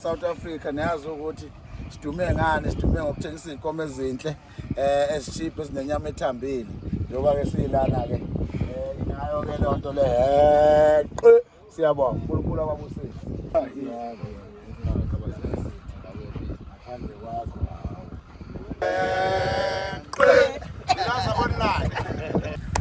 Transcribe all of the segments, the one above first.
South Africa niyazi ukuthi sidume ngani sidume ngokuthengisa izinkomo ezinhle eh ezishiphe sinenyama ethambile njengoba ke silana ke eh inayo ke lonto le heqe siyabonga uNkulunkulu ababusise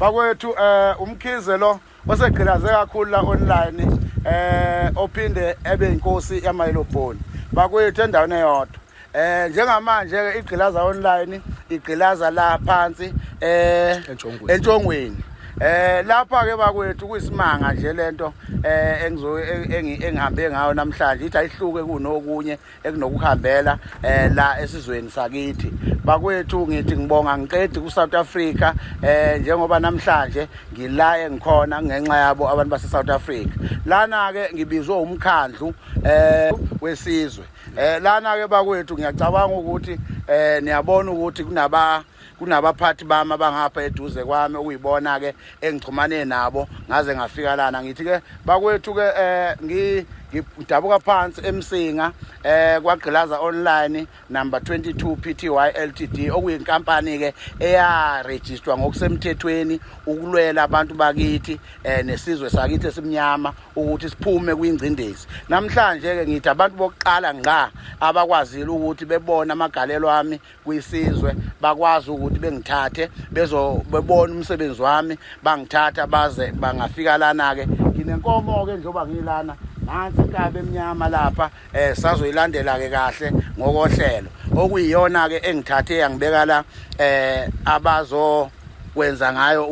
bakwethu eh umkhize lo osegqilaze kakhulu la online eh ophinde ebe inkosi yamayelobhoni bakwethu endaweni eyodwa eh njengamanje ke igqilaza online igqilaza la phansi eh entshongweni eh lapha ke bakwethu kuyisimanga nje lento eh engizo engihambe ngayo namhlanje ithi ayihluke kunokunye ekunokuhambela eh la esizweni sakithi bakwethu ngithi ngibonga ngiqedi ku South Africa eh njengoba namhlanje ngila engikhona ngenxa yabo abantu base South Africa lana ke ngibizwe umkhandlu eh wesizwe eh lana ke bakwethu ngiyacabanga ukuthi eh niyabona ukuthi kunaba kunabaphathi bami abangapha eduze kwami okuyibona ke engixhumane nabo ngaze ngafika lana ngithi ke bakwethu ke eh ngi ngidabuka phansi emsinga eh kwagqilaza online number 22 PTY Ltd okuyinkampani ke eya register ngokusemthethweni ukulwela abantu bakithi eh nesizwe sakithi esimnyama ukuthi siphume kwingcindezi namhlanje ke ngithi abantu bokuqala ngqa abakwazile ukuthi bebona amagalelo ami kwisizwe bakwazi ukuthi bengithathe bezobebona umsebenzi wami bangithatha baze bangafika lana ke nginenkomo ke njengoba ngilana nansi inkabe emnyama lapha eh sazoyilandela ke kahle ngokohlelo okuyiyona ke engithathe yangibeka la eh abazo kwenza ngayo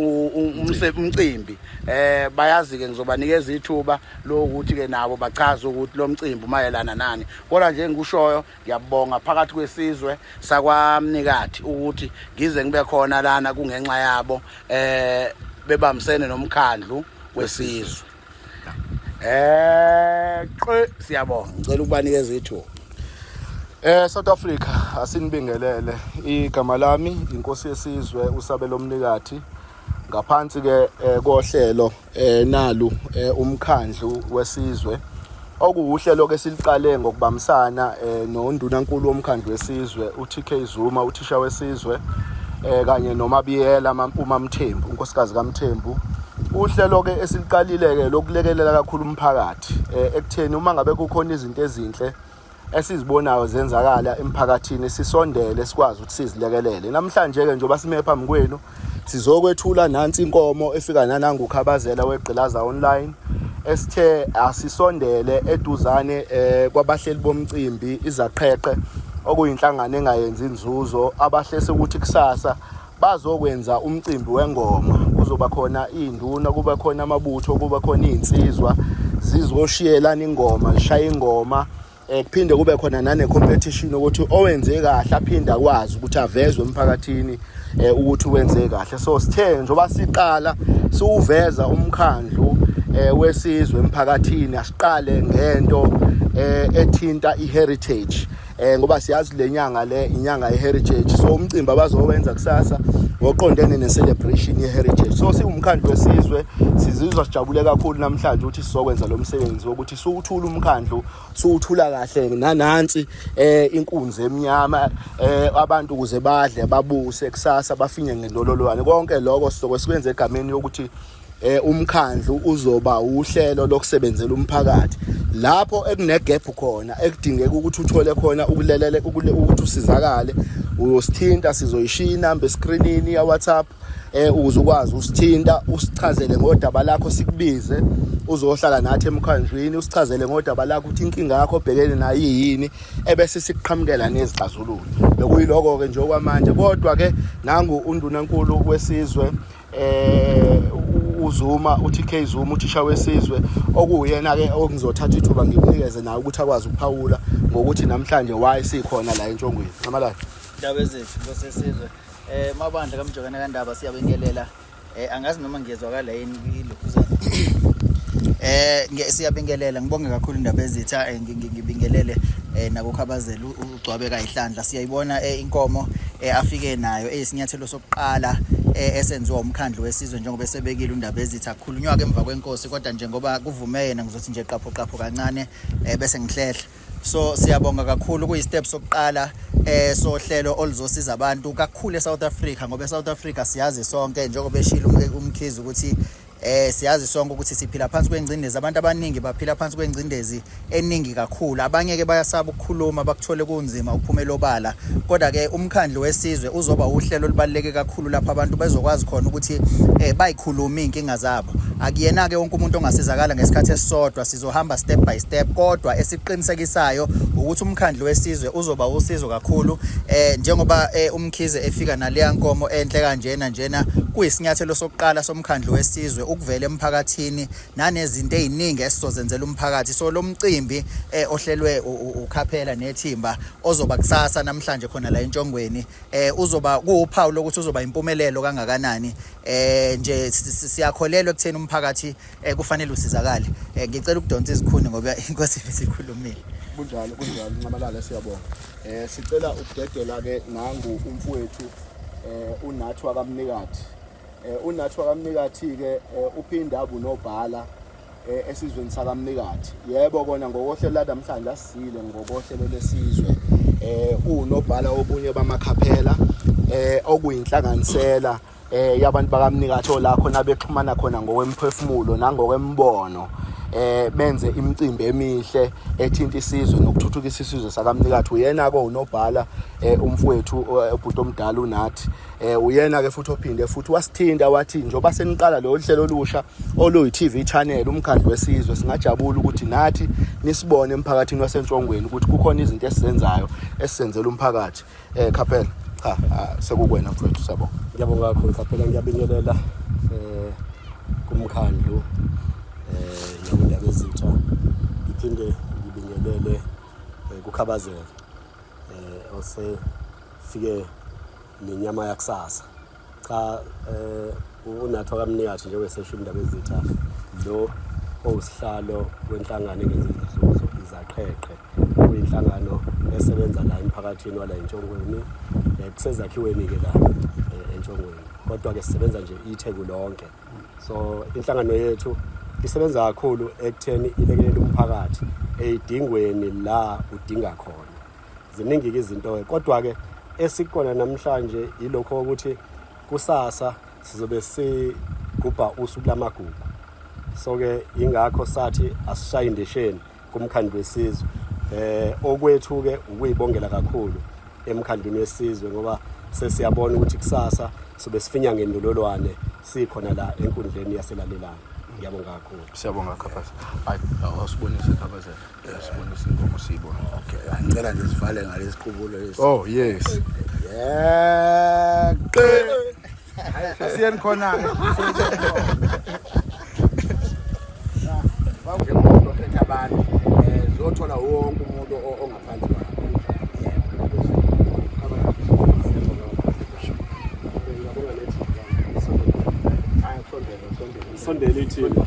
umcimbi eh bayazi ke ngizobanikeza ithuba lokuthi ke nabo bachaze ukuthi lo mcimbi umayelana nani kodwa nje engikushoyo ngiyabonga phakathi kwesizwe sakwamnikathi ukuthi ngize ngibe khona lana kungenxa yabo eh bebambisene nomkhandlu wesizwe eh qe siyabonga ngicela ukubanikeza ithuba Eh South Africa asinibingelele igama lami inkosi yesizwe usabelo mnikathi ngaphansi ke eh, kohlelo eh, nalu eh, umkhandlu wesizwe okuwuhlelo ke siliqale ngokubambisana nondunankulu womkhandlu wesizwe uTK Zuma uthisha wesizwe kanye nomabiyela mampuma Mthembu unkosikazi kaMthembu uhlelo ke esiliqalile ke lokulekelela kakhulu umphakathi ekutheni uma ngabe kukhona izinto ezinhle esizibonayo zenzakala emphakathini sisondele sikwazi ukuthi sizilekelele namhlanje-ke njengoba sime phambi kwenu sizokwethula nansi inkomo efika nanangukhabazela wegqilaza online esithe asisondele eduzane eh, kwabahleli bomcimbi izaqheqhe okuyinhlangano engayenzi inzuzo abahlese ukuthi kusasa bazokwenza umcimbi wengoma kuzoba khona iy'nduna kuba khona amabutho kuba khona iy'nsizwa zizoshiyelana ingoma zishaya ingoma um kuphinde kube khona nane-competition ukuthi owenze kahle aphinde akwazi ukuthi avezwe emphakathini um ukuthi wenze kahle so sithe njengoba siqala siwuveza umkhandlu um wesizwe emphakathini asiqale ngento um ethinta i-heritage eh ngoba siyazi lenyanga le inyanga yeheritage so umcimbi abazowenza kusasa ngoqondene ne-celebration ye-heritage so siwumkhandlu wesizwe sizizwa sijabule kakhulu namhlanje ukuthi sizokwenza lo msebenzi wokuthi siwuthula umkhandlu siwuthula kahle nanansi eh inkunzi emnyama eh abantu ukuze badle babuse kusasa bafinye ngendololwane konke lokho sizoke sikwenze egameni yokuthi eh umkhandlu uzoba uhlelo lokusebenzela umphakathi lapho ekunegap khona ekudingeka ukuthi uthole khona ukulelele ukuthi usizakale uyosithinta sizoyishiya inamba escreenini ya WhatsApp eh ukuze ukwazi usithinta usichazele ngodaba lakho sikubize uzohlala nathi emkhandlwini usichazele ngodaba lakho ukuthi inkinga yakho obhekene nayo yini ebese sikuqhamukela nezixazululo bekuyiloko ke nje okwamanje kodwa ke nangu undunankulu wesizwe eh uZuma uTK Zuma uthisha wesizwe okuyena ke okuzothatha ithuba ngimnikeze naye ukuthi akwazi ukuphawula ngokuthi namhlanje why sikhona la entshongweni ngamalayo indaba ezethu ngosesizwe eh mabandla kamjokana kandaba siyabingelela eh angazi noma ngiyezwakala yini ilokhuzana eh siyabingelela ngibonge kakhulu indaba ezitha eh, ngibingelele eh nakukhabazela ugcwabeka ihlandla siyayibona eh, inkomo eh, afike nayo eyisinyathelo eh, qala eh, esenziwa umkhandlu wesizwe njengoba esebekile undaba ezithi akukhulunywa ke emva kwenkosi kodwa njengoba kuvume yena ngizothi nje qapho qapho kancane eh, bese ngihlehla so siyabonga kakhulu kuyi step sokuqala eh sohlelo oluzosiza abantu kakhulu eSouth Africa ngoba eSouth Africa siyazi sonke njengoba eshilo umkhizi ukuthi Eh siyazi sonke ukuthi siphila phansi kwengcindezi abantu abaningi baphila phansi kwengcindezi eningi kakhulu abanye ke bayasaba ukukhuluma bakuthole kunzima ukuphumela obala kodwa ke umkhandlu wesizwe uzoba uhlelo olubaleke kakhulu lapho abantu bezokwazi khona ukuthi eh bayikhuluma inkinga zabo akuyena ke wonke umuntu ongasizakala ngesikhathi esisodwa sizohamba step by step kodwa esiqinisekisayo ukuthi umkhandlu wesizwe uzoba usizo kakhulu eh njengoba eh, umkhize efika naleya nkomo enhle kanjena njena kuyisinyathelo sokuqala umkhandlu wesizwe ukuvela emphakathini nanezinto eziningi esizozenzela umphakathi so lo mcimbi eh, ohlelwe ukhaphela nethimba ozoba kusasa namhlanje khona la entshongweni eh, uzoba kuwuphawu lokuthi uzoba impumelelo kangakanani eh, nje siyakholelwa ekutheni umphakathi eh, kufanele usizakale eh, ngicela ukudonsa izikhuni ngoba inkosi isikhulumile kunjalo kunjalo ncamalala siyabonga eh sicela ukudedela ke nangu umfowethu eh unathi wakamnikati Eh, unathi wakamnikathi-ke eh, uphinda abunobhala eh, esizweni sakamnikathi yebo kona ngokohlelo lanamhlanje asisile ngokohlelo lesizwe um uwunobhala obunye bamakhaphela um okuyinhlanganisela um yabantu bakamnikathi ola khona bexhumana khona ngokwemphefumulo nangokwembono eh benze imicimbi emihle ethinta isizwe nokuthuthukisa isizwe sakamnikathi uyena-ke unobhala um umfowethu ubhuti omdala unathi eh uyena ke futhi ophinde futhi wasithinta wathi njoba seniqala lo hlelo olusha oluyi TV channel umkhandlu wesizwe singajabula ukuthi nathi nisibone emphakathini wasentshongweni ukuthi kukhona izinto esizenzayo esisenzela umphakathi eh Khapela cha sekukwena mfowethu sabo ngiyabonga kakhulu Khapela ngiyabingelela eh kumkhandlu eh nabundaba ezitha ngiphinde ngibingelele eh, kukhabazela eh ose fike nenyama yakusasa cha eh unathwa kamnikathi njengoba sesho indaba ezitha lo owusihlalo wenhlangano engenzi izinzuzo izaqheqhe kuyinhlangano esebenza la emphakathini wala entshongweni eh, kusezakhiweni-ke la eh, entshongweni kodwa-ke sisebenza nje itheku lonke so inhlangano yethu isebenza kakhulu ekutheni ilekelele umphakathi eyidingweni la udinga khona ziningi-ke izinto-ke kodwa-ke esikona namhlanje yilokho ukuthi kusasa sizobe sigubha usuku lamagugu so-ke yingakho sathi asishaye indesheni kumkhandlu wesizwe eh okwethu-ke ukuyibongela kakhulu emkhandlwini wesizwe ngoba sesiyabona ukuthi kusasa sobe sifinya ngendololwane sikhona la enkundleni yaselalelana ngiyabonga kakhulu siyabonga khabhaza hayi awusibonise khabhaza Sibonisa inkomo siyibona. Okay, ngicela nje sivale ngalesi qubulo lesi. Oh yes. Yeah. Asiyeni khona. Njengomuntu ophethe abantu, eh zothola wonke umuntu ongaphansi kwakhe. Sondela ithini.